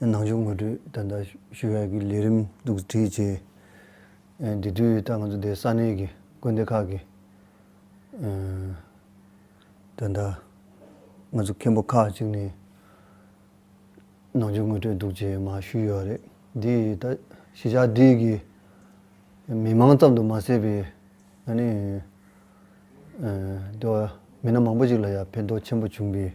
ནང་ཆོས་ངོ་སྤྲོད་དོན་དག་ཞུ་བའི་ལས་རིམ་གཏུག་བསྒྲིལ་བྱས། དེ་དུས་ད་ང་ཚོ་སྡེའི་ས་གནས་ཀྱི་དགོན་སྡེ་ཁག་གི་དོན་དག་ང་ཚོ་མཁན་པོ་ཁག་ཅིག་ནས་ནང་ཆོས་ངོ་སྤྲོད་གཏུག་བྱས་མ་ཞུས་ཡོད་རེད། འདི་ད་གཞིས་ཆགས་བདེ་གི་མི་མང་ཙམ་དུ་མ་ཟད་པའི་ང་ནི་མི་སྣ་མང་པོ་ཞིག་ལ་ཡང་ཕན་ཐོགས་ཆེན་པོ་བྱུང་བས།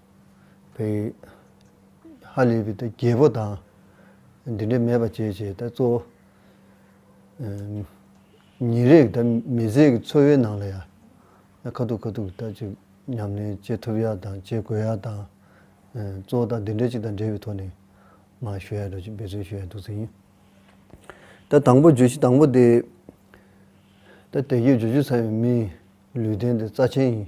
བའི། ཧ་ལས་པའི་རྒྱལ་པོ་དང། འདི་འདྲའི་མེད་པར་བྱས་བྱས་གཙོ་བོ། ཉིན་རེའི་དང་མི་ཚེའི་འཚོ་བའི་ནང་ལ་ཡང། ཁ་ཐུག་ཁ་ཐུག་ལྟར་ཅིག་ཉམས་ལེན་བྱེད་ཐུབ་ཡ་དང་བྱེད་དགོས་ཡ་དང། གཙོ་བོ་དང་འདི་འདྲའི་ཅིག་དང་འབྲེལ་བའི་ཐོག་ནས། མ་ཞུ་ཡ་འགྲོ་ཅིག་འབད་བརྩོན་ཞུ་ཡ་འདུག་ཟིན། ད་དང་པོ་བརྗོད་གཞི་དང་པོ་དེ། ད་དེ་རྒྱུ་བརྗོད་བྱེད་ཚར་བའི་མིའི་ལུས་རྟེན་དེ་རྩ་ཆེན་ཡིན།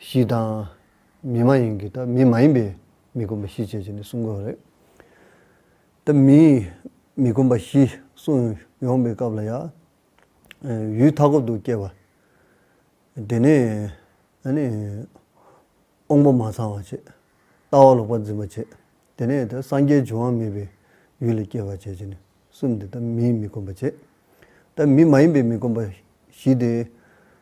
གཞི་དང། མི་མ་ཡིན་གྱི་དང་མི་མ་ཡིན་པའི་མི་སྒོམ་པ་བཞི་བཅས་བྱས་ནས་གསུང་དགོས་པ་རེད། དེ་མིན་མི་སྒོམ་པ་བཞི་གསུང་ཡོང་པའི་སྐབས་ལ་ཡང། ཡུལ་མཐའ་འཁོབ་ཏུ་སྐྱེ་བ། དེ་ནས་དབང་པོ་མ་ཚང་བ་བྱེད། ལྟ་བ་ལོག་པར་འཛིན་པ་བྱེད། དེ་ནས་དེ་སངས་རྒྱས་འབྱུང་བ་མེད་པའི་ཡུལ་ལ་སྐྱེ་བ་བྱེད་ཅེས་ནས་གསུམ་དེ་དེ་མིན་མི་སྒོམ་པ་བྱེད། དེ་མིན་མ་ཡིན་པའི་མི་སྒོམ་པ་བཞི་དེ།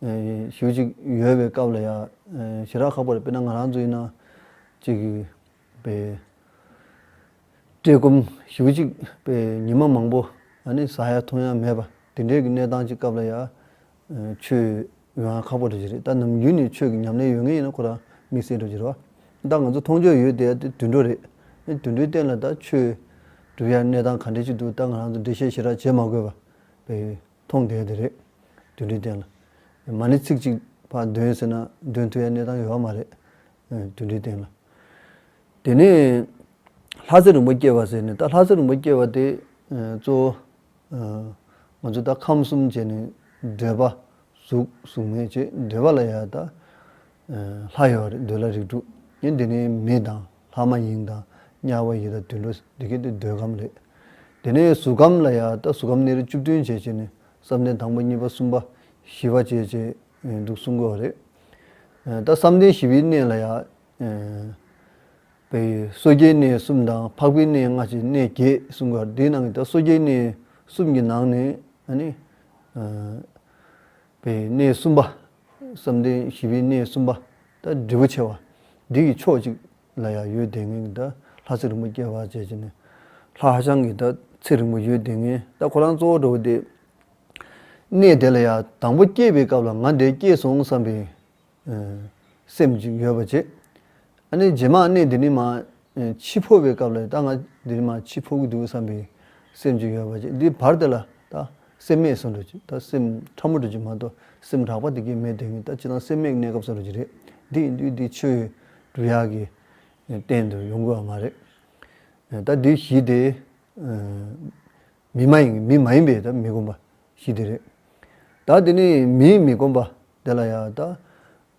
ཞོལ་ཅིག་ཡོལ་བའི་སྐབས་ལ་ཡང་ཞི་རགས་ཁ་པར་དཔེར་ན་ང་རང་ཚོའི་ནང་ཅིག་པའི་བཀྲེས་སྐོམ་ཞོལ་ཅིག་པའི་ཉི་མ་མང་པོ་ནི་ཟ་ཡ་འཐུང་ཡ་མེད་པ་དེ་འདྲའི་གི་གནས་སྟངས་ཅིག་སྐབས་ལ་ཡང་ཆོས་ཡོང་ཡ་ཁག་པོ་རེད་བཞིན་རེད་ད་ནམ་རྒྱུན་ནས་ཆོས་ཀྱི་ཉམས་ལེན་ཡོད་ངེས་ཡིན་ན་ཁོ་རང་དམིགས་བསལ་འགྲོ་བཞིན་རོགས་ད་ང་ཚོ་མཐོང་ཆོས་ཡོད་དེ་ཡ་དེ་དུད་འགྲོ་རེད་དེ་དུད་འགྲོའི་སྟེང་ལ་ད་ཆོས་སྒྲུབ་ཡ་གནས་སྟངས་ག་འདྲའི་ཅིག་འདུག་ད་ང་རང་ཚོ་འགྲེལ་བཤད་ཞི་རགས་བྱེད་མ་དགོས་པ་བས་ཡོད། མཐོང་བདེན་དེ་རེད། དུད་འགྲོའི་སྟེང་ལ། མ་ནི་ཚིག་གཅིག་པ་འདོན་ཟེར་ན་འདོན་ཐུབ་ཡ་གནས་སྟངས་ཡོད་པ་མ་རེད། དུད་འགྲོའི་སྟེང་ལ། དེ་ནས། ལྷ་རྩེ་རིན་པོ་སྐྱེས་པ་ཟེར་ནས་ད་ལྷ་རྩེ་རིན་པོ་སྐྱེས་པ་དེ། གཙོ་བོ། ང་ཚོ་ད་ཁམས་གསུམ་བྱས་ནས་འདོད་པ། གཟུགས་གཟུགས་མེད་ཅེས་འདོད་པ་ལ་ཡང་ད། ལྷ་ཡོད་རེད་འདོད་ལ་རིགས་དྲུག། ཡིན་དེ་ནས་མི་དང། ལྷ་མ་ཡིན་དང་དམྱལ་བ་ཡི་དང་དུད་འགྲོ་འདི་སྐད་དུ་འདོད་ཁམས་ལས། དེ་ནས་གཟུགས་ཁམས་ལ་ཡང་ལྟ་གཟུགས་ཁམས་ནི་རིགས་བཅུ་བདུན་བྱེད་ཅེས་ནི་བསམ་གཏན་དང་པོ་གཉིས་པ་གསུམ་པ་བཞི་བ་བྱེད་ཅེས་འདུག་གསུང་དགོས་པ་རེད། ད་བསམ་གཏན་བཞི་པའི་གནས་ལ་ཡང། པའི་སོ་སྐྱེའི་གནས་གསུམ་དང་འཕགས་པའི་གནས་ལྔ་ཅེས་གནས་བརྒྱད་གསུང་དགོས་པ་དེའི་ནང་གི་ད་སོ་སྐྱེའི་གནས་གསུམ་གྱི་ནང་ནས། པའི་གནས་གསུམ་པ། བསམ་གཏན་བཞི་པའི་གནས་གསུམ་པ། དང་འབྲས་བུ་ཆེ་བ། འདི་ཡི་ཕྱོགས་གཅིག་ལ་ཡང་ཡོད་དེ་ངན་གྱི་དང་ལྷ་ཚེགས་རིང་པོ་སྐྱེ་བར་བྱེད་ཅེ་ནས། ལྷ་ཧ་ཅང་གི་དང་ཚེགས་རིང་པོ་ཡོད་དེ་ངན་ད་ཁོ་རང་གཙོ་བོར་འགྲོ་བ་སྟེ། གནས་དེ་ལ་ཡང་དང་པོ་སྐྱེས་པའི་སྐབས་ལ་ང་འདས་སྐྱེས་སོང་བསམ་པས། སེམས་ཅིག་ཡོད་པ་བྱེད། ཨ་ནི་རྗེས་མར་གནས་འདི་ནི་མ་འཆི་འཕོ་བའི་སྐབས་ལ་ད་ང་འདི་ནི་མ་འཆི་འཕོ་གི་འདུག་བསམ་པའི་སེམས་ཅིག་ཡོད་པ་བྱེད་འདི་བར་དེ་ལ་ད་སེམས་མེད་སོང་འགྲོ་ཅིག་ད་སེམས་ཕྲ་མོ་འགྲོ་ཅིག་མ་གཏོགས་སེམས་དྲག་པ་དེ་གས་མེད་དོན་གྱི་ད་ཅི་ལྟར་སེམས་མེད་གནས་སྐབས་སོང་འགྲོ་ཅིག་རེད་འདི་ཡིན་དུས་འདི་ཆོས་ཡོད་འབྲུ་ཡག་གི་སྟེང་དུ་ཡོང་དགོས་བ་མ་རེད། ད་འདི་གཞི་དེ། མི་མ་ཡིན་མི་མ་ཡིན་པའི་མི་སྒོམ་པ་ཞིག་དེ་རེད། ད་དེ་ནས་མིའི་མི་སྒོམ་པ་དེ་ལ་ཡང་ད་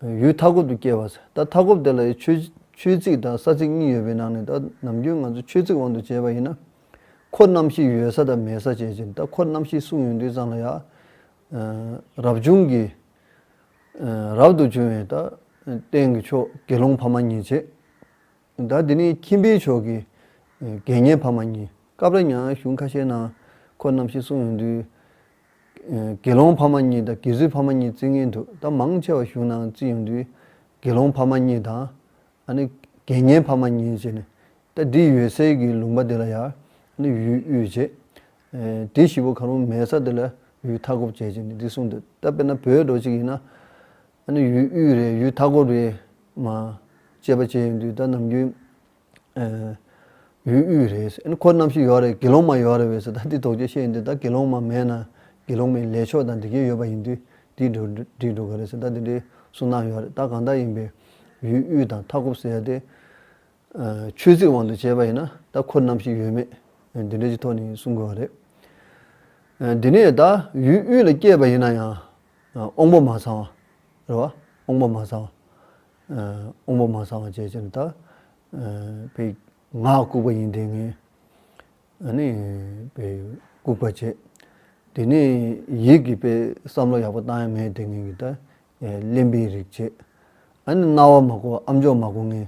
ཡུལ་མཐའ་འཁོབ་ཏུ་སྐྱེ་བ་ཟེར། ད་མཐའ་འཁོབ་དེ་ལ་ཡང་ཆོས་ཆོས་ཚིག་དང་ས་ཚིག་གཉིས་ཡོད་པའི་ནང་ནས་ད་ནམ་རྒྱུན་ང་ཚོ་ཆོས་ཚིག་དབང་དུ་བྱས་པ་ཡིན་ན། འཁོར་རྣམ་ཤེས་ཡོད་ས་དང་མེད་ས་བྱེད་ཅིང་ད་འཁོར་རྣམ་ཤེས་གསུངས་ཡོད་དུས་ཙང་ལ་ཡང། རབ་བྱུང་གི། རབ་ཏུ་བྱུང་བའི་ད། རྟེན་གྱི་མཆོག་དགེ་སློང་ཕ་མ་གཉིས་བྱེད། ཟླ་འདི་ནི་ཁྱིམ་པའི་ཕྱོགས་ཀྱི་དགེ་བསྙེན་ཕ་མ་གཉིས་སྐབས་རེ་ཉང་གཞུང་ཁ་ཤས་ནང་ཁོ་རྣམ་ཤེས་གསུངས་ཡོང་དུས། དགེ་སློང་ཕ་མ་གཉིས་དང་དགེ་བཟོད་ཕ་མ་གཉིས་བརྩི་ངེས་འདུག་ད་མང་ཆེ་བ་གཞུང་ནང་བརྩི་ཡོང་དུས་དགེ་སློང་ཕ་མ་གཉིས་དང། དགེ་བསྙེན་ཕ་མ་གཉིས་བྱས་ནས་ད་འདི་ཡོད་སའི་གི་ལུང་པ་འདི་ལ་ཡར་ཡུལ་དབུས་བྱས། དེ་བཞི་པོ་གང་རུང་མེད་ས་འདི་ལ་ཡུལ་མཐའ་འཁོབ་བྱས་བྱས་ནས་འདི་གསུངས་འདུག་ད་དཔེར་ན་བོད་འགྲོ་གཅིག་ཡིན་ན། ཨ་ནུ་ཡུལ་དབུས་རེད་ཡུལ་མཐའ་འཁོར་རེད། མ། བཅས་པ་བཅས་ཡོད་འདུག་ད་ནམ་རྒྱུན། ཨ། ཡུལ་དབུས་རེད་ཟེར་ཨ་ནུ་ཁོ་རྣམ་ཤེས་ཡོད་རེད་དགེ་སློང་མ་ཡོད་རེད་བས་སོ་ད་འདི་དོགས་དཔྱོད་བཤད་ཡིན་དུས་ད་དགེ་སློང་མ་མེད་ན་དགེ་སློང་མའི་ལས་ཆོག་དང་འབྲི་མཁན་ཡོད་པ་ཡིན་དུས་འདིས་འགྲོ་འགྲིག་འགྲོ་གི་རེད་ཟེར་ད་འདི་འདྲའི་སུན་སྣང་ཡོད་རེད་ད་གང་ལྟར་ཡིན་པའི་ཡུལ་དབུས་དང་མཐའ་འཁོབ་ཟེར་ཡ་དེ། ཆོས་ཚིག་དབང་དུ་བྱས་པ་ཡིན་ན་ད་ཁོ་ནམ་ཞིག་ཡོད་མེད་འདི་འདྲའི་ཀྱི་ཐོག་ནས་གསུང་དགོས་བ་རེད། འདི་ནས་ད་ཡུལ་དབུས་ལ་སྐྱེས་པ་ཡིན་ན་ཡང་དབང་པོ་མ་ཚང་བ་རེད་བ་དབང་པོ་མ་ཚང་བ་དབང་པོ་མ་ཚང་བ་བྱས་ཅན་ད་པའི་ངག་ལྐུགས་པ་ཡིན་དེ་ངས་ནི་པའི་ལྐུགས་པ་བྱས་དེ་ནས་ཡིད་ཀྱི་པའི་བསམ་བློ་ཡག་པོ་བཏང་ཡ་མེད་དེ་ངས་ཀྱི་ད་གླེན་པའི་རིགས་བྱས་ཨ་ནི་རྣ་བ་མ་གོ་ཨམ་ཅོག་མ་གོ་ངས་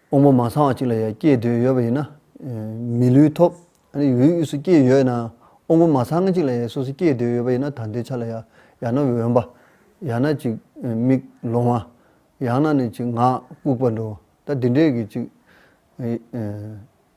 དབང་པོ་མ་ཚང་བ་ཅིག་ལ་ཡང་སྐྱེས་འདོད་ཡོད་པ་ཡིན་ན། མི་ལུས་ཐོབ། འོད་དབུས་སུ་སྐྱེས་ཡོད་ན། དབང་པོ་མ་ཚང་ཅིག་ལ་ཡང་སོ་སོ་སྐྱེས་འདོད་ཡོད་པ་ཡིན་ན་ད་འདོད་ཆགས་ལ་ཡང་ཡང་ན་འོན་པ། ཡང་ན་ཅིག་མིག་ལོང་བ། ཡང་ན་ནི་ཅིག་ངག་ལྐུགས་པ་འགྲོ། ད་འདི་འདྲས་ཀྱི་ཅིག།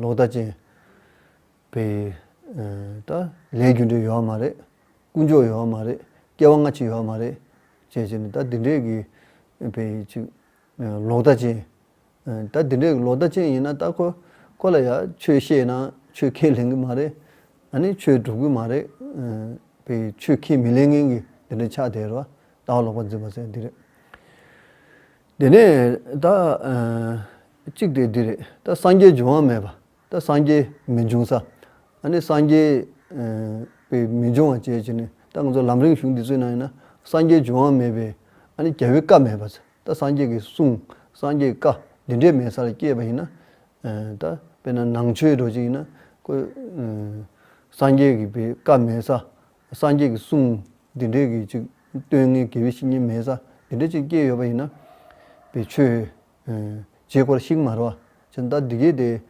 ལོག་ལྟ་ཅན། པའི། ལྟ། ལས་རྒྱུ་འབྲས་ཡོད་མ་རེད། ཀུན་སྤྱོད་ཡོད་མ་རེད། སྐྱེ་བ་སྔ་ཕྱི་ཡོད་མ་རེད། ཅེས་བྱས་ནས་ལྟ་འདི་འདྲས་ཀྱི། པའི་ཅིག། ལོག་ལྟ་ཅན། ལྟ་འདི་འདྲས་ཀྱི་ལོག་ལྟ་ཅན་ཡིན་ན་ལྟ་ཁོ། ཁོ་ལ་ཡང་ཆོས་བཤད་ན་ཆོས་ཁས་ལེན་གི་མ་རེད། ཨ་ནི་ཆོས་སྒྲུབ་གི་མ་རེད། པའི་ཆོས་ཁས་མི་ལེན་མཁན་གྱི་འདི་འདྲའི་ཆགས་དེས་རོ། ལྟ་བ་ལོག་པར་འཛིན་པ་ཟེར་བ་འདི་རེད། དེ་ནས་ད་གཅིག་དེ་འདི་རེད་ད་སངས་རྒྱས་འབྱུང་བ་མེད་པ་ད་སངས་རྒྱས་མི་འབྱུང་ས་ཨ་ནི་སངས་རྒྱས་པའི་མི་འབྱུང་བ་བཅས་བྱས་ནས་ད་ང་ཚོ་ལམ་རིང་གཞུང་འདི་ཚོའི་ནང་ཡིན་ན་སངས་རྒྱས་འབྱུང་བ་མེད་པའི་ཨ་ནི་རྒྱལ་པོའི་བཀའ་མེད་པ་ཚེ་ད་སངས་རྒྱས་ཀྱི་གསུང་སངས་རྒྱས་བཀའ་འདི་འདྲའི་མེད་ས་ལ་སྐྱེས་པ་ཡིན་ན་ད་དཔེར་ན་ནང་ཆོས་འགྲོ་བྱེད་ཡིན་ན་ཁོས་སངས་རྒྱས་ཀྱི་བཀའ་མེད་ས་སངས་རྒྱས་ཀྱི་གསུང་འདི་འདྲའི་གི་ཅིག་སྟོན་ངེས་དགེ་བའི་བཤེས་གཉེན་མའི་ས་འདི་འདྲའི་ཅིག་སྐྱེས་ཡོད་པ་ཡིན་ན། པའི་ཆོས། རྗེས་དཀོར་ཤིག་མ་རོ། ཅི་ད་འདི་གས་དེ།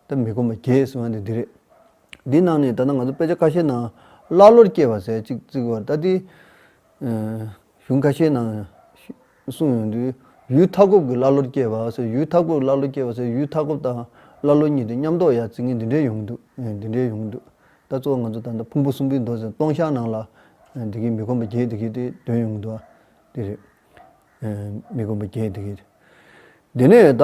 ད་མི་དགོ་མ་རྒྱས་གསུང་བ་ནི་འདི་རེད། འདི་གནང་ནས་ད་ནང་ང་ཚོ་དཔེ་ཆ་ཁ་ཤས་ནང་ཀླ་ཀློར་སྐྱེས་པ་ཟེར་ཅིག་བརྩིགས་བར་ད་འདི། གཞུང་ཁ་ཤས་ནང། གསུངས་ཡོང་དུས། ཡུལ་མཐའ་འཁོབ་ཀྱི་ཀླ་ཀློར་སྐྱེས་པ་ཟེར་ཡུལ་མཐའ་འཁོབ་ཀྱི་ཀླ་ཀློ་སྐྱེས་པ་ཟེར་ཡུལ་མཐའ་འཁོབ་དང་ཀླ་ཀློ་གཉིས་དེ་མཉམ་འདོགས་ཡ་རྩི་ངན་འདི་འདྲའི་ཡོང་གི་འདུག་འདི་འདྲའི་ཡོང་གི་འདུག་ད་གཙོ་བོ་ང་ཚོ་ད་ལྟ་ཕུང་པོ་གསུམ་པོའི་མདོ་ཟེར་སྟོང་ཤར་ནང་ལ་འདི་གི་མི་ཁོམ་པ་བརྒྱད་འདི་གི་དེ་དོན་ཡོང་གི་འདུག་དེ་རེད། མི་ཁོམ་པ་བརྒྱད་འདི་གི། དེ་ནས་ད།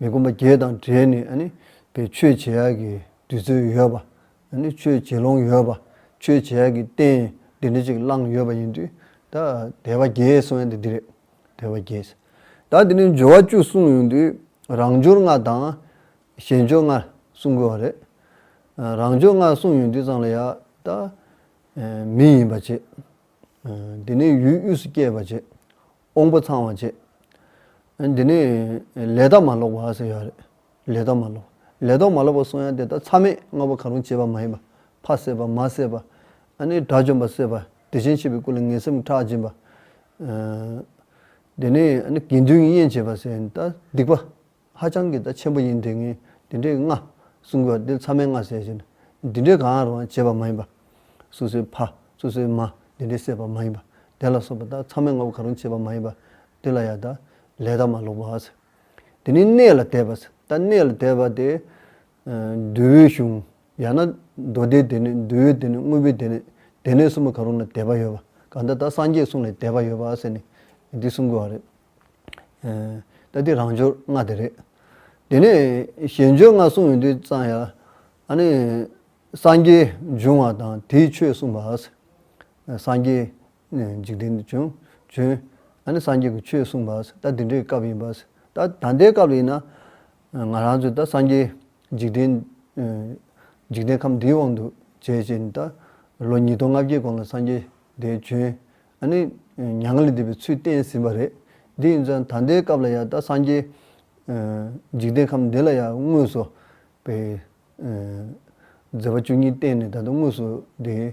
མི་སྒོམ་པ་བརྒྱད་དང་བྲལ་ནས་ནི། དེ་ཆོས་བྱེད་ཡག་གི་དུས་ཚོད་ཡོད་པ། ནི་ཆོས་བྱེད་ལོང་ཡོད་པ། ཆོས་བྱེད་ཡག་གི་རྟེན་འདི་འདྲ་ཅིག་བླངས་ཡོད་པ་ཡིན་དུས། ད་དད་པ་བརྒྱད་གསུངས་ཡ་འདི་འདི་རེད། དད་པ་བརྒྱད། ད་འདི་ནས་སྦྱོར་བ་བཅུ་གསུངས་ཡོང་དུས། རང་སྦྱོར་ལྔ་དང། གཞན་སྦྱོར་ལྔ་གསུངས་དགོས་བ་རེད། རང་སྦྱོར་ལྔ་གསུངས་ཡོང་དུས་ཙང་ལ་ཡ། ད། མི་ཡིན་པ་བྱེད། འདི་ནས་ཡུལ་དབུས་སུ་སྐྱེས་པ་བྱེད། དབང་པོ་ཚང་བར་བྱེད། འདི་ནི་ལས་དག་མ་ལོག་པ་ཟེར་ཡོད་རེད། ལས་དག་མ་ལོག། ལས་དོག་མ་ལོག་པ་སོང་ཡང་དེ་དག་མཚམས་མེད་ལྔ་པོ་གང་རུང་བྱེད་པ་མ་ཡིན་པ། ཕ་བསད་པ་མ་བསད་པ། ཨ་ནེའི་དགྲ་བཅོམ་པ་བསད་པ་བདེ་ཆེན་བྱེད་པའི་སྐུ་ལ་ངན་སེམས་ཁྲག་འབྱིན་པ། འདི་ནི་དགེ་འདུན་གྱི་དབྱེན་བྱེད་པ་ཟེར་ཡོད་རེད། སྡིག་པ། ཧ་ཅང་གི་ད་ཆེན་པོ་ཡིན་དེ་ངས་འདི་འདྲའི་སྔ། གསུང་གི་བ་འདི་ཚང་མའི་སྔ་ཟེར་བཞིན། འདི་འདྲའི་གང་རུང་བྱེད་པ་མ་ཡིན་པ། སུ་སུའི་ཕ། སུ་སུའི་མ། འདི་འདྲའི་སྲེད་པ་མ་ཡིན་པ། དེ་ལ་སོགས་པ་ད་ཚང་མའི་སྔ་བོ་གང་རུང་བྱེད་པ་མ་ཡིན་པ། འདི་ལ་ཡང་ད། ལས་ད་མ་ལོག་པ། འདི་ནི་གནས་ལ་དད་པ། ད་གནས་ལ་དད་པ་དེ། འདུལ་བའི་གཞུང། ཡང་ན། མདོ་སྡེའི་དེ་ནས་འདུལ་བའི་དེ་ནས་དངོས་པོའི་དེ་ནས། དེ་ནས་གསུམ་པོ་གང་རུང་ལ་དད་པ་ཡོད་པ། གང་ལྟར་ད་སངས་རྒྱས་གསུང་ལ་དད་པ་ཡོད་པ་ཟེར་ནས། འདི་གསུང་དགོས་བ་རེད། ད་དེ་རང་འབྱོར་ལྔ་དེ་རེད། དེ་ནས་གཞན་འབྱོར་ལྔ་གསུངས་ཡོད་དུས་ཙང་ཡང་ནི། སངས་རྒྱས་འབྱུང་བ་དང་དེའི་ཆོས་གསུངས་པ། སངས་རྒྱས་འཇིག་རྟེན་དུ་བྱོན། སངས་རྒྱས་ཀྱི་ཆོས་གསུངས་པ། ད་དེ་འདྲའི་སྐབས་ཡིན་པ། ད་ད་ལྟའི་སྐབས་ཡིན་ན། ང་རང་ཚོས་ད་སངས་རྒྱས་འཇིག་རྟེན། འཇིག་རྟེན་ཁམས་འདིའི་དབང་དུ་བྱས་ཅེས་ནི་ད། ལོ་ཉིས་སྟོང་ལྔ་བརྒྱའི་གོང་ལ་སངས་རྒྱས་དེ་བྱོན། ཨ་ནི། མྱ་ངན་ལས་འདས་པའི་ཚུལ་བསྟན་ཟིན་པ་རེད། དེ་ཡིན་ཙང་ད་ལྟའི་སྐབས་ལ་ཡང་ད་སངས་རྒྱས། འཇིག་རྟེན་ཁམས་འདི་ལ་ཡང་དངོས་སུ། པའི། མཛད་པ་བཅུ་གཉིས་བསྟན་ནས་ད་དུང་དངོས་སུ་དེའི།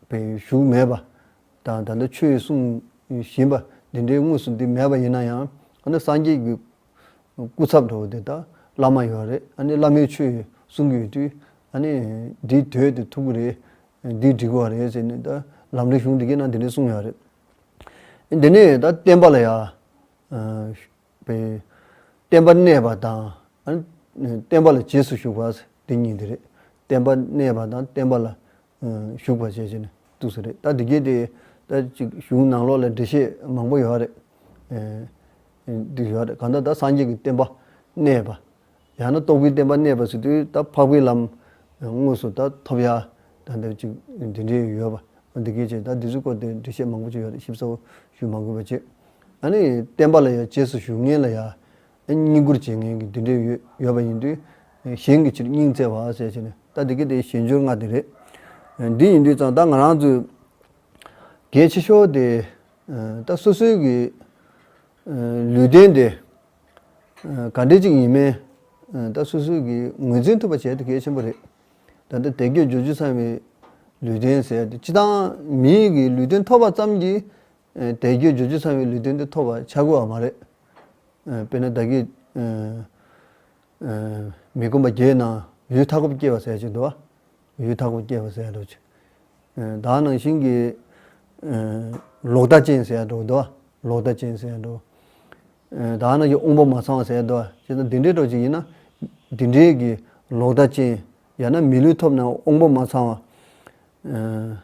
པའི་བཞུགས་མེད་པ། དང་ད་ལྟ་ཆོས་གསུངས་བཞིན་པ་འདི་འདྲའི་དངོས་སུ་འདི་མེད་པ་ཡིན་ན་ཡང། ཨ་ནི་སངས་རྒྱས་ཀྱི་སྐུ་ཚབ་འགྲོ་བ་དེ་དག་བླ་མ་ཡོད་རེད་ཨ་ནི་བླ་མའི་ཆོས་ཡོད་གསུང་གི་ཡོད་དུས་ཨ་ནི་འདིའི་དོད་དེ་ཐུག་གི་རེད་འདི་འགྲིག་བ་རེད་ཟེར་ནས་ད་ལམ་རིག་གཞུང་འདི་གས་ན་འདི་ནས་གསུང་ཡོད་རེད། འདི་ནས་ད་བསྟན་པ་ལ་ཡ། བསྟན་པ་གནས་པ་དང་ཨ་ནི་བསྟན་པ་ལ་རྗེས་སུ་ཞུགས་པ་འདི་གཉིས་འདི་རེད་བསྟན་པ་གནས་པ་དང་བསྟན་པ་ལ་བཞུགས་པ་བྱས་ཅི་ནས་བཏུགས་ས་རེད་ད་དེ་གའི་དེ་ད་ཅིག་གཞུང་ནང་ལོགས་ལ་འབྲེལ་བཤད་མང་པོ་ཡོད་རེད། འདི་ཡོད་རེད་གང་ལྟར་ད་སངས་རྒྱས་ཀྱི་བསྟན་པ་གནས་པ། ཡང་ན་རྟོགས་པའི་བསྟན་པ་གནས་པ་ཟེར་དུས་ད་འཕགས་པའི་ལམ་དངོས་སུ་ད་ཐོབ་ཡ་ད་འདི་ཅིག་འདི་འདྲའི་ཡོད་པ་འོ་འདི་གའི་ཆེད་ད་འདི་ཚོའི་སྐོར་དེ་འབྲེལ་བཤད་མང་པོ་ཅིག་ཡོད་རེད་ཞིབ་ཚགས་པོ་ཞུས་མ་དགོས་པ་ཅི། ཨ་ནི་བསྟན་པ་ལ་ཡ་གཅེས་སུ་ཞུ་ངེས་ལ་ཡ། བསྙེན་བཀུར་བྱེད་མཁན་གྱི་དུད་འགྲེལ་ཡོད་པ་ཡིན་དུས། གཞན་གྱི་ཕྱིར་སྙིང་བརྩེ་བ་ཟེར་བྱས་ནས་ལྟ་དེ་གི་དེ་ཞེས་འབྱོར་ལྔ་དེ་རེད། འདི་ཡིན་དུས་ཙང་ད་ང་རང་ཚོའི་གལ་ཆེ་ཤོས་དེ། ད་སོ་སོའི་གི་ལུས་རྟེན་དེ་ག་འདྲི་ཅིག་ཡིན་མིན་ད་སོ་སོའི་གི་ངོས་འཛིན་ཐུབ་པ་བྱས་དེ་གལ་ཆེན་པོ་རེད། ད་ལྟ་དད་གུས་རྗོ་རྒྱུ་ཚང་བའི་ལུས་རྟེན་ཟེར་དེ་ཅི་ད་མིའི་གི་ལུས་རྟེན་ཐོབ་པ་ཙམ་གྱིས་དད་གུས་རྗོད་བྱེད་ཚང་བའི་ལུས་རྟེན་དེ་ཐོབ་པར་ཆགས་དགོས་བ་མ་རེད། དཔེར་ན་བདག་གིས། མི་དགོན་པ་བརྒྱའི་ནང་ཡུལ་མཐའ་འཁོབ་སྐྱེལ་བ་ཟེར་གྱི་འདུག་ཡུལ་མཐའ་འཁོབ་སྐྱེལ་བ་ཟེར་འདུག་ཅེས། བདག་ནང་བཞིན་གྱི། ལོག་ལྟ་ཅན་ཟེར་འདུག་འདུག་ལོག་ལྟ་ཅན་ཟེར་འདུག། བདག་ནང་གི་དབང་པོ་མ་ཚང་བ་ཟེར་འདུག་ཅེས་ན་འདི་འདྲའི་སྒྲོག་ཅིག་ཡིན་ན། འདི་འདྲའི་གི་ལོག་ལྟ་ཅན། ཡང་ན་མི་ལུས་ཐོབ་ནའང་དབང་པོ་མ་ཚང་བ།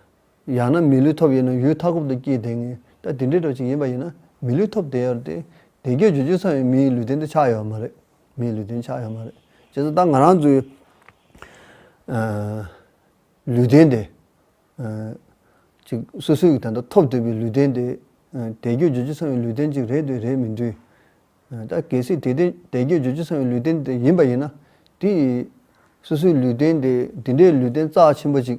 ཡང་ན་མི་ལུས་ཐོབ་ཡོད་ན་ཡུལ་མཐའ་འཁོབ་ཏུ་སྐྱེས་དེ་ངེས་ད་དེ་འདྲའི་གྲོགས་ཅིག་ཡིན་པ་ཡིན་ན་མི་ལུས་ཐོབ་དེ་ཡོད་རེད་དེ་དེ་གྱོད་གྱོད་ཅིག་ཚང་ཡོད་མིའི་ལུས་སྟེང་དུ་ཆགས་ཡོད་མ་རེད་མིའི་ལུས་སྟེང་ཆགས་ཡོད་མ་རེད་བྱས་ཙང་ད་ང་རང་ཚོའི་ལུས་སྟེང་དེ་ཅིག་སོ་སོའི་གི་ད་ལྟ་ཐོབ་འདོད་པའི་ལུས་སྟེང་དེ་དེ་གྱོད་གྱོད་ཅིག་ཚང་ཡོད་ལུས་སྟེང་ཅིག་རེད་དུས་རེད་མི་འདུས་ད་གལ་སྲིད་དེ་དེ་དེ་གྱོད་གྱོད་ཅིག་ཚང་ཡོད་ལུས་སྟེང་དེ་ཡིན་པ་ཡིན་ན་དེ་ཡི་སོ་སོའི་ལུས་སྟེང་དེ་དེ་འདྲའི་ལུས་སྟེང་རྩ་ཆེན་པོ་ཅིག།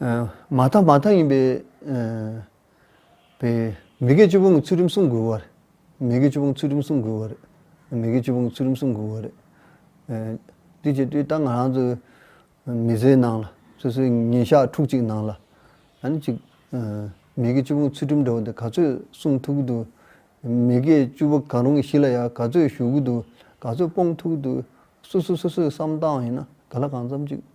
མ་མཐའ་མ་མཐའ་ཡིན་པའི། པའི། མི་དགེ་བཅུ་ཕུང་ཚུལ་ཁྲིམས་སྲུང་དགོས་བར། མི་དགེ་བཅུ་ཕུང་ཚུལ་ཁྲིམས་སྲུང་དགོས་བར། མི་དགེ་བཅུ་ཕུང་ཚུལ་ཁྲིམས་སྲུང་དགོས་བར། དུས་ཀྱི་དུས་རྟག་ང་རང་ཚོའི། མི་ཚེའི་ནང་ལ་སོ་སོའི་ཉིན་ཞག་ཕྲུག་གཅིག་ནང་ལ། ཨ་ནི་ཅིག། མི་དགེ་བཅུ་ཕུང་ཚུལ་ཁྲིམས་འདྲ་བོ་འདི་ག་ཚོད་སྲུང་ཐུབ་ཀྱི་འདུག། མི་དགེ་བཅུ་པོ་གང་རུང་གི་གཞི་ལ་ཡང་ག་ཚོད་ཞུགས་ཀྱི་འདུག་ག་ཚོད་སྤོང་ཐུབ་ཀྱི་འདུག་སོ་སོ་སོ་སོས་བསམ་བཏང་བ་ཡིན་ན་ག་ལ་གང་འཚམ་ཅིག།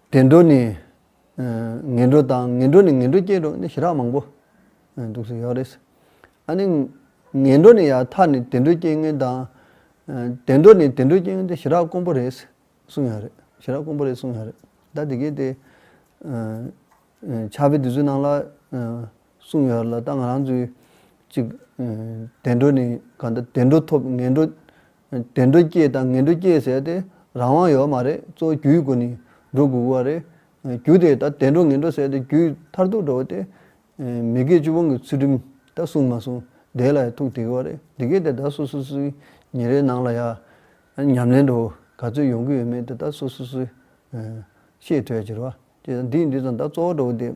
བདེ་འགྲོ་ནི། ངན་འགྲོ་དང་ངན་འགྲོ་ནི་ངན་འགྲོ་སྐྱེ་འགྲོ་ནི་ཞི་རགས་མང་པོ་འདུག་ཟེར་ཡོད་རེད། ཨ་ནི། ངན་འགྲོ་ནི་ཡང་མཐའ་ནི་བདེ་འགྲོ་སྐྱེ་ངན་དང། བདེ་འགྲོ་ནི་བདེ་འགྲོ་སྐྱེ་ངན་དེ་ཞི་རགས་དཀོན་པོ་རེད། གསུངས་ཡོད་རེད། ཞི་རགས་དཀོན་པོ་རེད་གསུངས་ཡོད་རེད། ད་དེ་གའི་དེ། ཕྱག་དཔེ་དེ་ཚོའི་ནང་ལ། གསུངས་ཡོད་ལ་ད་ང་རང་ཚོས་ཅིག་བདེ་འགྲོ་ནི་ག་འདྲ་བདེ་འགྲོ་ཐོབ་ངན་འགྲོ་བདེ་འགྲོ་སྐྱེས་དང་ངན་འགྲོ་སྐྱེས་ཟེར་ཏེ་རང་དབང་ཡོད་མ་རེད་གཙོ་བོ་རྒྱུའི་སྒོ་ནས་འགྲོ་དགོས་གི་བ་རེད་རྒྱུ་དེ་ད་བདེ་འགྲོ་ངན་འགྲོ་ཟེར་ཏེ་རྒྱུའི་མཐར་ཐུག་འགྲོ་བ་དེ་མི་དགེ་བཅུ་སྤོང་གི་ཚུལ་ཁྲིམས་ད་གསུངས་མ་གསུངས་དེ་ལ་ཡང་ཐུག་བསྡད་གི་བ་རེད་དེ་གས་དེ་ད་སོ་སོ་སོའི་ཉིན་རེའི་ནང་ལ་ཡང་ཉམས་ལེན་འགྲོ་ག་ཚོད་ཡོང་གི་ཡོད་མེད་དེ་ད་སོ་སོ་སོས་ཤེས་ཐུབ་ཡ་གྱི་རེད་བ། དེ་དང་དེའི་འདུས་ཙམ་དག་གཙོ་བོ་འགྲོ་བ་འདི།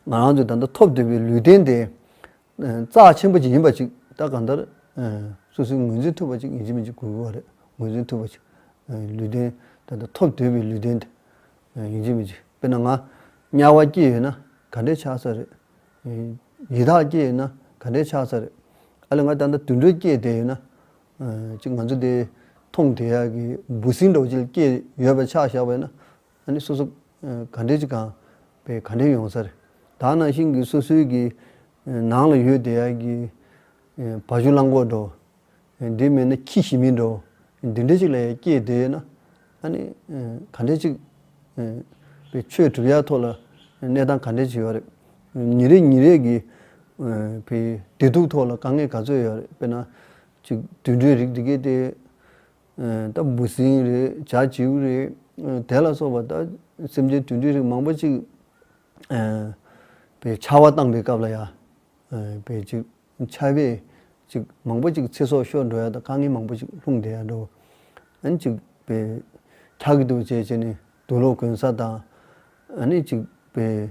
ང་རང་ཚོས་ད་ལྟ་ཐོབ་འདོད་པའི་ལུས་རྟེན་དེ། རྩ་ཆེན་པོ་ཅིག་ཡིན་པ་ཅིག་ད་གང་ལྟར། སོ་སོའི་ངོས་འཛིན་ཐུབ་པ་ཅིག་ངེས་ཅན་མི་གཅིག་དགོས་དགོས་པ་རེད། ངོས་འཛིན་ཐུབ་པ་ཅིག། ལུས་རྟེན་ད་ལྟ་ཐོབ་འདོད་པའི་ལུས་རྟེན་དེ། ངེས་ཅན་མི་གཅིག་དཔེར་ན་ང། དམྱལ་བ་སྐྱེས་ཡོད་ན་ག་འདྲའི་ཆགས་ས་རེད། ཡི་དྭགས་སྐྱེས་ཡོད་ན་ག་འདྲའི་ཆགས་ས་རེད། ཨ་ལས་ང་ད་ལྟ་དུད་འགྲོས་སྐྱེས་བསྡད་ཡོད་ན། ཅིག་ང་ཚོ་དེ། མཐོང་དེ་ཡག་གི་འབུ་སྲིན་འགྲོགས་བྱེད་སྐྱེས་ཡོད་པ་ཆགས་བཞག་པ་ཡོད་ན། ཨ་ནི་སོ་སོ་ག་འདྲེ་གཅིག་གང་བའི་ག་འདྲེ་ཡོང་སར་དག་ན་ཤིང་གི་སོ་སོའི་གི་ནང་ལ་ཡོད་དེ་གི་བ་གཞུ་གླང་གོག་འགྲོ། འདི་མེད་ན་ཁྱི་ཞི་མི་འགྲོ། འདི་འདྲེ་གཅིག་ལ་ཡང་སྐྱེས་དེ་ན་ཨ་ནི་ག་འདྲེ་གཅིག་བའི་ཆོས་གྲུབ་ཡ་ཐོག་ལ་གནས་སྟངས་ག་འདྲེ་བྱེད་ཡོད་རེད། ཉིན་རེ་ཉིན་རེ་གི་བའི་བདེ་སྡུག་ཐོག་ལ་དཀའ་ངལ་ག་ཚོད་ཡོད་རེད་དཔེར་ན་གཅིག་དུད་འགྲོའི་རིགས་འདི་གས་དེ། ལྟ་བུ་ཟིན་རེད་བྱ་བྱེའུ་རེད་དེ་ལ་སོགས་པ་ལྟ་སེམས་ཅན་དུད་འགྲོའི་རིགས་མང་པོ་ཅིག་པའི་ཆར་བ་བཏང་པའི་སྐབས་ལ་ཡང་བས་ཅིག་ཆར་བས་ཅིག་མང་པོ་ཅིག་ཚེ་སྲོག་ཤོར་འགྲོ་ཡ་དང་དཀའ་ངལ་མང་པོ་ཅིག་ལྷུང་བསྡད་ཡ་འགྲོ། ཨཱ་ཅིག་པས་འཁྱག་གི་འདུག་བྱས་བྱས་ནས་དུག་ལོག་གོན་ས་དང། ཨཱ་ནི་ཅིག་པས་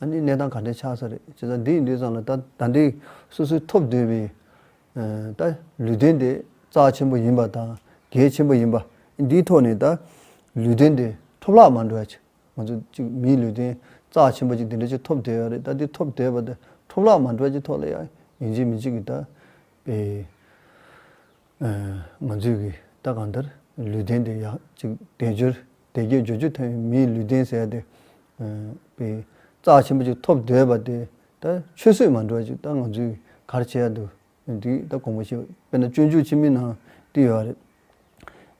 ཨ་ནི་གནས་སྟངས་ག་འདྲའི་ཆགས་ས་རེད་བྱས་ཙང་འདི་ཡི་ལུས་བཟང་ལ་ད་ད་འདི་སོ་སོའི་ཐོབ་འདོད་པའི། ད་ལུས་རྟེན་དེ་རྩ་ཆེན་པོ་ཡིན་པ་དང་གལ་ཆེན་པོ་ཡིན་པ་འདིའི་ཐོག་ནས་ད་ལུས་རྟེན་དེ་ཐོབ་ལག་མ་འགྲོ་ཡ་ཆེ་ང་ཚོ་གཅིག་མིའི་ལུས་རྟེན་རྩ་ཆེན་པོ་གཅིག་འདི་འདྲ་གཅིག་ཐོབ་འདོད་ཡ་རེད་ད་འདི་ཐོབ་འདོད་པ་དེ་ཐོབ་ལག་མ་འགྲོ་ཡ་ཆེ་ཐོག་ལ་ཡ་ཡིན་གཅིག་མིན་གཅིག་གི་ད་པའི། ང་ཚོས་གི་ད་གང་ལྟར་ལུས་རྟེན་དེ་ཡག་གཅིག་བདེ་སྦྱོར་བདེ་སྐྱིད་རྒྱུ་ཆུ་ཐོན་མིའི་ལུས་སྟེང་ཟད་དེ། པའི་རྩ་ཆེན་པོ་ཅིག་ཐོབ་འདོད་པ་དེ་ད་ཆུད་ཟོས་མ་འགྲོ་ཅིག་ད་ང་ཚོས་གར་བྱས་འདུག་འདུག་ད་གོང་བུ་ཞིག་དཔེར་ན་སྤྱོད་འཇུག་ཕྱི་མིག་ནང་བསྟི་ཡོད་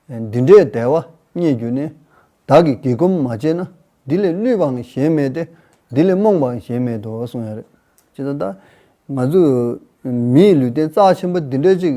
རེད། འདི་འདྲའི་དལ་བ་རྙེད་རྒྱུ་ནི་བདག་གིས་དགེ་སྒོམ་མ་བྱས་ན་འདི་ལས་བསླུས་པའང་གཞན་མེད་དེ་འདི་ལས་རྨོངས་པའང་གཞན་མེད་དོ་གསུངས་ཡོད་རེད། ཅི་ལྟར་ད་ང་ཚོས་མིའི་ལུས་སྟེང་རྩ་ཆེན་པོ་འདི་འདྲ་ཅིག་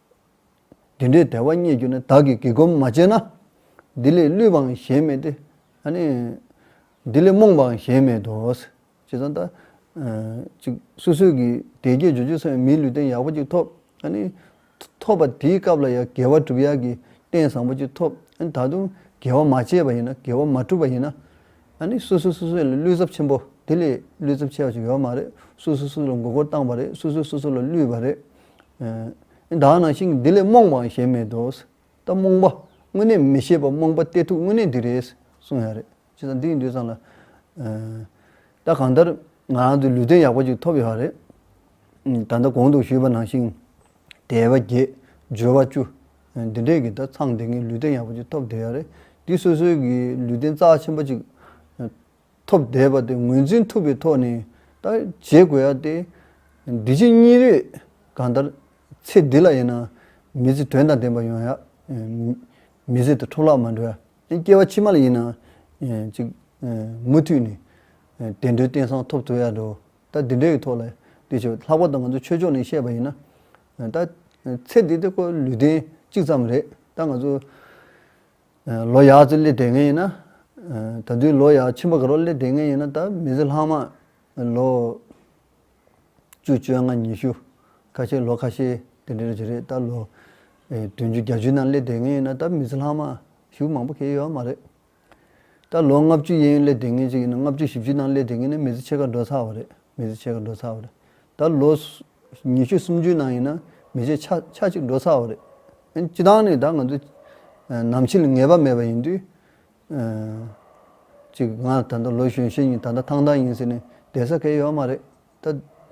འདི་འདྲའི་བདེ་བ་རྙེད་རྒྱུ་ནི་བདག་གིས་བགྱི་སྒོམ་མ་བྱས་ན། འདི་ལས་བསླུས་པའང་གཞན་མེད་དེ། འདི་ལས་རྨོངས་པའང་གཞན་མེད་དོ། ཇི་ཙམ་ད། ཅིག། སོ་སོའི་གི། དད་བརྒྱས་འཇུ་ཆུ་སོན་པའི་མིའི་ལུས་རྟེན་ཡག་པོ་ཅིག་ཐོབ། ཐོབ་པ་དེའི་སྐབས་ལ་ཡང་དགེ་བ་བསྒྲུབ་ཡག་གི་རྟེན་བཟང་པོ་ཅིག་ཐོབ། ད་དུང་དགེ་བ་མ་བྱས་པ་ཡིན་ན་དགེ་བ་མ་བསྒྲུབས་པ་ཡིན་ན། སོ་སོས་སོ་སོ་ལ་བསླུས་ཚབས་ཆེན་པོ། དེ་ལས་བསླུས་ཚབས་ཆེ་བ་ཞིག་ཡོད་མ་རེད། སོ་སོས་སོ་སོ་ལ་མགོ་སྐོར་བཏང་བ་རེད། སོ་སོས་སོ་སོ་ལ་བསླུས་པ་རེད། བདག་ནང་བཞིན་འདི་ལས་རྨོངས་པའང་གཞན་མེད་དོ། ད་རྨོངས་པ་དངོས་གནས་མི་ཤེས་པ་རྨོངས་པ་སྟེ་ཐུགས་དངོས་གནས་འདི་རེད་གསུངས་ཡ་རེད། ཅི་ཙང་འདི་ཡིན་འདོད་ཙང་ལ། ད་གང་ལྟར་ང་རང་ཚོའི་ལུས་རྟེན་ཡག་པོ་ཅིག་ཐོབ་ཡོད་རེད། ད་ལྟ་གོང་དུ་ཞུས་པ་ནང་བཞིན་དལ་བ་བརྒྱད། སྦྱོར་བ་བཅུ། འདི་འདྲས་ཀྱིས་ད་ཚང་འདི་ངའི་ལུས་རྟེན་ཡག་པོ་ཅིག་ཐོབ་བསྡད་ཡ་རེད། འདི་སོ་སོའི་གི་ལུས་རྟེན་རྩ་ཆེན་པོ་ཅིག་ཐོབ་བསྡད་པ་དེ་ངོས་འཛིན་ཐུབ་པའི་ཐོག་ནས་ད་བྱེད་དགོས་ཡ་སྟེ། འདི་ཕྱི་གཉིས་རེས་གང་ལྟར་ཚེ་འདི་ལ་ཡིན་ན་མི་ཚེ་དོན་དང་ལྡན་པ་ཡོང་ཡ། མི་ཚེ་དང་འཕྲོ་བརླག་མ་འགྲོ་ཡ། སྐྱེ་བ་ཕྱི་མ་ལ་ཡིན་ན་ཅིག། མུ་མཐུད་ནས་བདེ་འགྲོའི་རྟེན་བཟང་ཐོབ་ཐུབ་ཡ་འགྲོ། ད་འདི་འདྲའི་ཐོག་ལ་ལྟོས་ཆེ། ལྷག་པར་དུ་ང་ཚོ་ཆོས་ཕྱོགས་ནས་བཤད་པ་ཡིན་ན། ད་ཚེ་འདི་དེ་ཁོ་ལུས་རྟེན་གཅིག་ཙམ་རེད། ད་ང་ཚོ། ལོ་ཡག་ཅིག་སླེབས་དེ་ངེས་ཡིན་ན། ད་དུས་ལོ་ཡག་ཆེན་པོ་ག་རོག་སླེབས་དེ་ངེས་ཡིན་ན་ད་མི་ཚེ་ལྷག་མ། ལོ། བཅུ་བཅོ་ལྔ་ཉི་ཤུ། ཁ་ཤས་ལོ་ཁ་ཤས་དེ་འདྲ་རེད་ད་ལོ། དུན་ཅུ་གྱ་ཅུ་ནང་སླེབས་དེ་ངེས་ཡིན་ན་ད་མི་ཚེ་ལྷག་མ། ཞུགས་མང་པོ་ཁེལ་ཡོད་མ་རེད། ད་ལོ་ལྔ་བཅུ་ཡན་སླེབས་དེ་ངེས་ཅིག་ཡིན་ན་ལྔ་བཅུ་བཞི་བཅུ་ནང་སླེབས་དེ་ངེས་ན་མི་ཚེ་ཕྱེད་ཀ་འགྲོ་ཚར་བ་རེད་མི་ཚེ་ཕྱེད་ཀ་འགྲོ་ཚར་བ་རེད་ད་ལོ། ཉི་ཤུ་སུམ་ཅུའི་ནང་ཡིན་ན་མི་རྗེ་ཆ་གཅིག་འགྲོ་ཚར་བ་རེད། སྤྱི་བཏང་ནས་ད་ང་ཚོ་ནམ་ཕྱི་ལ་ངེས་པ་མེད་པ་ཡིན་དུས། གཅིག་ང་ད་ལྟ་ལོ་གཞོན་ཤེས་ཡིན་ད་ལྟ་ཐང་ཐང་ཡིན་ཟེར་ནས་བསྡད་ས་ཁེལ་ཡོད་མ་རེད། ད་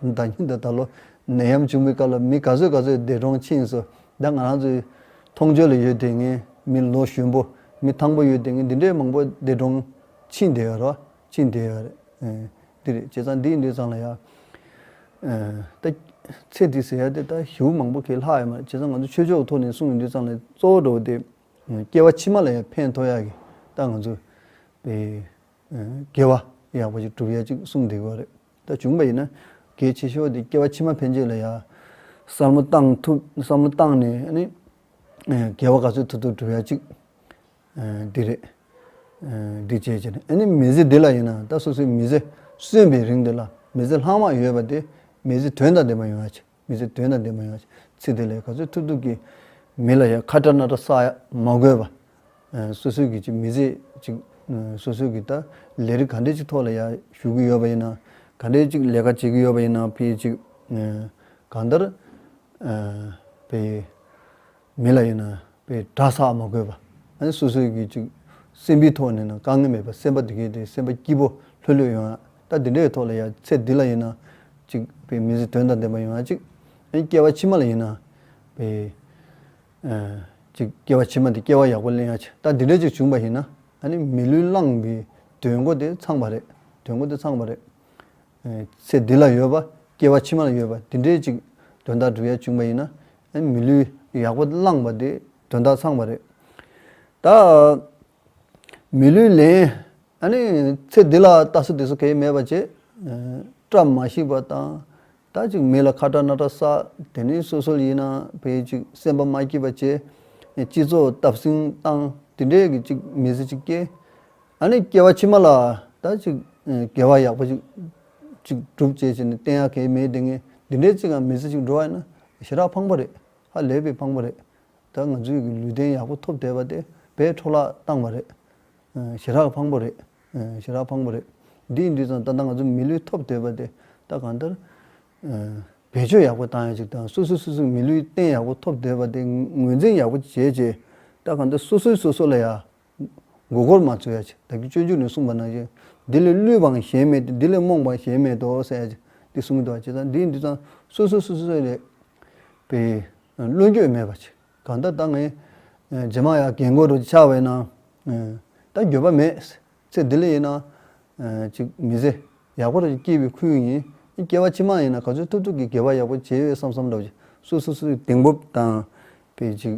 ད་ཉིད་ད་ལོ་ནད་ཡམས་བྱུང་པའི་སྐབས་ལ་མི་ག་ཚོད་ག་ཚོད་འདས་གྲོངས་ཕྱིན་སོ་ད་ང་རང་ཚོའི་མཐོང་ཆོས་ལ་ཡོད་དེ་ངས་མི་ལོ་གཞོན་པོ་མི་ཐང་པོ་ཡོད་དེ་ངས་འདི་འདྲའི་མང་པོ་འདས་གྲོངས་ཕྱིན་བསྡད་ཡོད་རོ། ཅི་འདི་ཡ་རེད། འདི་རེད། བྱས་ཙང་འདི་ཡིན་འདི་ཙང་ལ་ཡ། ད། ཚེ་འདི་ཟེར་ཡ་དེ་ད་ཞེའུ་མང་པོ་ཁེ་ལྷག་ཡོད་མ་རེད་བྱས་ཙང་ང་ཚོ་ཆོས་ཕྱོགས་ཐོག་ནས་གསུངས་ཡོད་འདི་ཙང་ལ་གཙོ་བོ་འགྲོ་བ་དེ། སྐྱེ་བ་ཕྱི་མ་ལ་ཡང་ཕན་ཐོགས་ཡ་གི་ད་ང་ཚོ། པའི། དགེ་བ་ཡག་པོ་ཞིག་སྒྲུབ་ཡ་ཅིག་གསུངས་བསྡད་ཡོད་རེད་ད་བྱུང་བ་ཡིན་ན། གལ་ཆེ་ཤོས་དེ་སྐྱེ་བ་ཕྱི་མ་ཕན་ཆོད་ལ་ཡ། བསམ་བློ་བཏང་ཐུབ་བསམ་བློ་བཏང་ནས་ནི། དགེ་བ་ག་ཚོད་ཐུབ་ཐུབ་སྒྲུབ་ཡ་ཅིག། འདི་རེད། འདི་བྱས་བྱས་ནས་ཨ་ནི་མི་ཟི་འདི་ལ་ཡིན་ན་ད་སོ་སོའི་མི་ཟི་གསོན་པའི་རིང་འདི་ལ་མི་ཟི་ལྷག་མ་ཡོད་པ་དེ་མི་ཟི་དོན་དང་ལྡན་པ་ཡོང་ཡ་ཆེ་མི་ཟི་དོན་དང་ལྡན་པ་ཡོང་ཡ་ཆེ་ཚིག་དེ་ལས་ག་ཚོད་ཐུབ་ཐུབ་ཀྱིས་མི་ལ་ཡ་ཁ་དྲ་སྣ་དྲ་བསགས་ཡ་མ་དགོས་པ། སོ་སོའི་གི་ཅིག་མི་ཟི་ཅིག་སོ་སོའི་གི་ད་ལས་རིགས་ག་འདྲའི་ཅིག་ཐོག་ལ་ཡ་ཞུགས་ཀྱི་ཡོད་པ་ཡིན་ན་ག་འདྲའི་ཅིག་ལས་ཀ་བྱེད་ཀྱི་ཡོད་པ་ཡིན་ན་ཕི་ཅིག་གང་ལྟར་ཕི། མི་ལ་ཡིན་ན་པའི་གྲྭ་ས་མ་དགོས་པ། སོ་སོའི་གི་ཅིག་སེམས་པའི་ཐོག་ནས་ན་དཀའ་ངལ་མེད་པ་སེམས་པ་དེ་གས་དེ་སེམས་པ་སྐྱིད་པོ་ལྷོད་ལྷོད་ཡོང་ཡག་ད་དེ་འདྲའི་ཐོག་ལ་ཡ་ཚེ་འདི་ལ་ཡིན་ན་ཅིག་པའི་མི་ཚེ་དོན་དང་ལྡན་པ་ཡོང་ཡག་ཅིག་སྐྱེ་བ་ཕྱི་མ་ལ་ཡིན་ན་པའི། ཅིག་སྐྱེ་བ་ཕྱི་མ་དེ་སྐྱེ་བ་ཡག་པོ་གླེང་ཡག་ཆེ་ད་དེ་འདྲ་ཅིག་བྱུང་པ་ཡིན་ན་ནི་མི་ལུས་བླངས་པའི་དོན་གོ་དེ་ཚང་པ་རེད་དོན་གོ་དེ་ཚང་པ་རེད། ཚེ་འདི་ལ་ཡོད་པ་སྐྱེ་བ་ཕྱི་མ་ལ་ཡོད་པ་དེ་འདྲའི་ཅིག་དོན་དག་བསྒྲུབ་ཡ་བཅུག་པ་ཡིན་ན། མི་ལུས་ཡག་པོ་བླངས་པ་དེ་དོན་དག་ཚང་བ་རེད། ད། མི་ལུས་ལེན། ཨཱནི། ཚེ་འདི་ལ་ལྟ་སོ་དེ་སོ་གས་མེད་པ་བྱེད། བཀྲ་མ་ཤིས་པ་དང། ད་ཅིག་མི་ལ་ཁ་བཀྲ་སྣ་བཀྲ་བསགས་དེ་ནི་སོ་སོལ་ཡིན་ན་བས་ཅིག་སེམས་པ་མ་སྐྱིད་པ་བྱེད། སྤྱི་ཚོགས་སྟབས་སིང་བཏང་དེ་འདྲས་ཀྱི་ཅིག་མི་ཚེ་ཅིག་སྐྱེལ། ད་ནི་སྐྱེ་བ་ཕྱི་མ་ལ་ད་ཅིག་དགེ་བ་ཡག་པོ་ཞིག་ཅིག་སྒྲུབ་ཅེས་བྱས་ནས་བསྟན་ཡ་གལ་མེད་དེ་ངས་འདི་འདྲའི་ཅིག་ཨ་མི་ཚེ་ཅིག་འགྲོ་བ་ཡིན་ན་ཞེ་དྲག་ཕངས་པོ་རེད་ཧ་ལས་པའི་ཕངས་པོ་རེད་ད་ང་ཚོའི་གི་ལུས་རྟེན་ཡག་པོ་ཐོབ་བསྡད་པ་དེ་བས་འཕྲོ་བརླག་བཏང་བ་རེད་ཞེ་དྲག་ཕངས་པོ་རེད་ཞེ་དྲག་ཕངས་པོ་རེད་འདི་ཡིན་དུས་ཙང་ད་ལྟ་ང་ཚོ་མི་ལུས་ཐོབ་བསྡད་པ་དེ་ད་གང་ལྟར་བེད་སྤྱོད་ཡག་པོ་བཏང་ཡ་ཅིག་དང་སོ་སོས་སོ་སོའི་གི་མི་ལུས་རྟེན་ཡག་པོ་ཐོབ་བསྡད་པ་དེ་ངོས་འཛིན་ཡག་པོ་བྱས་རྗེས་ད་གང་ལྟར་སོ་སོས་སོ་སོ་ལ་ཡ་མགོ་སྐོར་མ་ཚོལ་ཡ། བདག་གི་སྤྱོད་འཇུག་ནི་གསུངས་པ་ན་བཞི། འདི་ལས་བསླུས་པའང་གཞན་མེད་དེ་འདི་ལས་རྨོངས་པའང་གཞན་མེད་དོ་ཟེར་ཡ། འདི་གསུངས་གི་འདུག་བ་ཇི་ལྟར་འདིའི་འདི་ཙམ་སོ་སོའི་སོ་སོའི་སོ་ལས། པའི། བླུན་སྤྱོད་མེད་པ་ཆེ། གང་ལྟར་ད་ངས། རྗེས་མ་ཡ་གེ་མགོ་རུ་ཆགས་པས་ན། ད་འགྱོད་པ་མེད། ཚེ་འདི་ལ་ཡིན་ན། ཅིག་མི་ཟེར། ཡག་པོ་རུ་སྐྱེས་པའི་ཁུལ་ཡིན། སྐྱེ་བ་ཕྱི་མ་ཡིན་ན་ག་ཚོད་ཐུབ་ཐུབ་ཀྱིས་དགེ་བ་ཡག་པོ་བྱས་ཡོད་བསམ་བསམ་འདུག་བ་ཇི་སོ་སོའི་གདེང་སྤོབས་དང། པའི་ཅིག།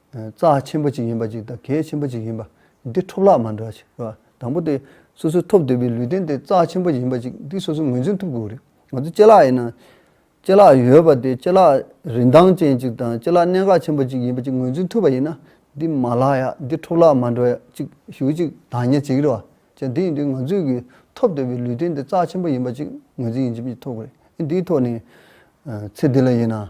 རྩ་ཆེན་པོ་ཅིག་ཡིན་པ་ཅིག་དང་གལ་ཆེན་པོ་ཅིག་ཡིན་པ་འདི་འཕྲོ་བརླག་མ་འདྲ་ཞིག་རེད། དང་པོ་དེ་སོ་སོའི་ཐོབ་འདོད་པའི་ལུས་རྟེན་དེ་རྩ་ཆེན་པོ་ཡིན་པ་ཅིག་འདི་སོ་སོས་ངོས་འཛིན་ཐུབ་དགོས་རེད། ང་ཚོ་ལྕེ་ལག་ཡིན་ན། ལྕེ་ལག་ཡོད་པ་དེ་ལྕེ་ལག་རིན་ཐང་ཅན་ཅིག་དང་ལྕེ་ལག་གནད་འགག་ཆེན་པོ་ཅིག་ཡིན་པ་ཅིག་ངོས་འཛིན་ཐུབ་པ་ཡིན་ན་འདི་མ་ལག་ཡག་འདི་འཕྲོ་བརླག་མ་འདྲ་ཡག་ཅིག་ཞུ་ཅིག་དང་ཉེ་ཅིག་རེད་བ་ཅན་དེ་ཡིན་དུས་ང་ཚོས་ཀྱི་ཐོབ་འདོད་པའི་ལུས་རྟེན་དེ་རྩ་ཆེན་པོ་ཡིན་པ་ཅིག་ངོས་འཛིན་ཡིན་ཅིག་ཐུབ་དགོས་རེད། འདིའི་ཐོག་ནས། ཚེ་འདི་ལ་ཡིན་ན།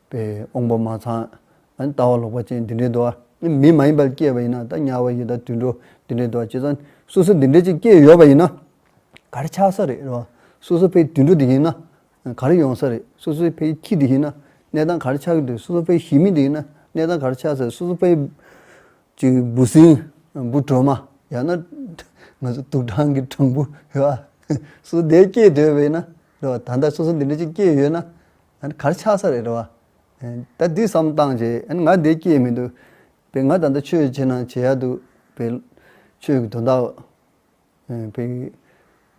པའི་དབང་པོ་མ་ཚང། ལྟ་བ་ལོག་པ་ཅན་འདི་འདྲའི་འདུ་བ་མི་མ་ཡིན་པར་སྐྱེས་པ་ཡིན་ན་ད་དམྱལ་བ་ཡི་དྭགས་དུད་འགྲོ་འདི་འདྲའི་འདུ་བ་སྤྱི་ཙང་སོ་སོ་འདི་འདྲའི་ཅིག་སྐྱེས་ཡོད་པ་ཡིན་ན་གར་ཆགས་ས་རེད་རོ། སོ་སོ་ཕའི་དུད་འགྲོ་དེ་ཡིན་ན་གར་ཡོང་ས་རེད་སོ་སོའི་ཕའི་ཁྱི་དེ་ཡིན་ན་གནས་དང་གར་ཆགས་གི་དུས་སོ་སོ་ཕའི་ཞི་མི་དེ་ཡིན་ན་གནས་དང་གར་ཆགས་ས་རེད་སོ་སོ་ཕའི། ཅིག་འབུ་སྲིན། འབུ་དྲོན་མ། ཡང་ན། ང་ཚོ་དུག་སྦྲང་གི་སྦྲང་བུ། ཧེ་བ། སོ་སོ་འདས་སྐྱེས་དོད་པ་ཡིན་ན་རེད། ད་ལྟ་སོ་སོ་འདི་འདྲའི་ཅིག་སྐྱེས་ཡོད་ན་ཨ་གར་ཆགས་ས་རེད་བ། ད་འདི་བསམ་བཏང་བྱས་ཨ་ང་འདི་སྐྱེས་མི་འདུག་བས་ང་ད་ལྟ་ཆོས་བྱེད་ན་བྱེད་ཡག་འདུག་བས། ཆོས་ཀྱི་དོན་དག། བས།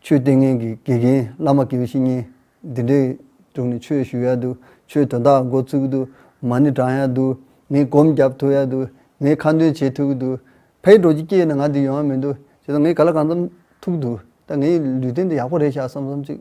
ཆོས་ལྟས་ངན་གྱི་དགེ་རྒན་བླ་མ་གི་བཤེས་གཉེན་འདི་འདྲའི་དྲུང་ནས་ཆོས་ཞུ་ཡག་འདུག་ཆོས་དོན་དག་འགོ་ཚུགས་འདུག་མ་ཎི་བགྲང་ཡག་འདུག་ངས་གོམ་བརྒྱབ་ཐུབ་ཡག་འདུག་ངས་ཁ་འདོན་བྱེད་ཐུག་འདུག་བས་འགྲོ་རྒྱུ་སྐྱེས་ན་ང་འདི་ཡོང་ཡག་མི་འདུག་བྱས་ཙང་ངས་ག་ལ་གང་བསམ་ཐུག་འདུག་ད་ངའི་ལུས་རྟེན་འདི་ཡག་པོ་རེད་ཤག་བསམ་བསམ་ཅིག།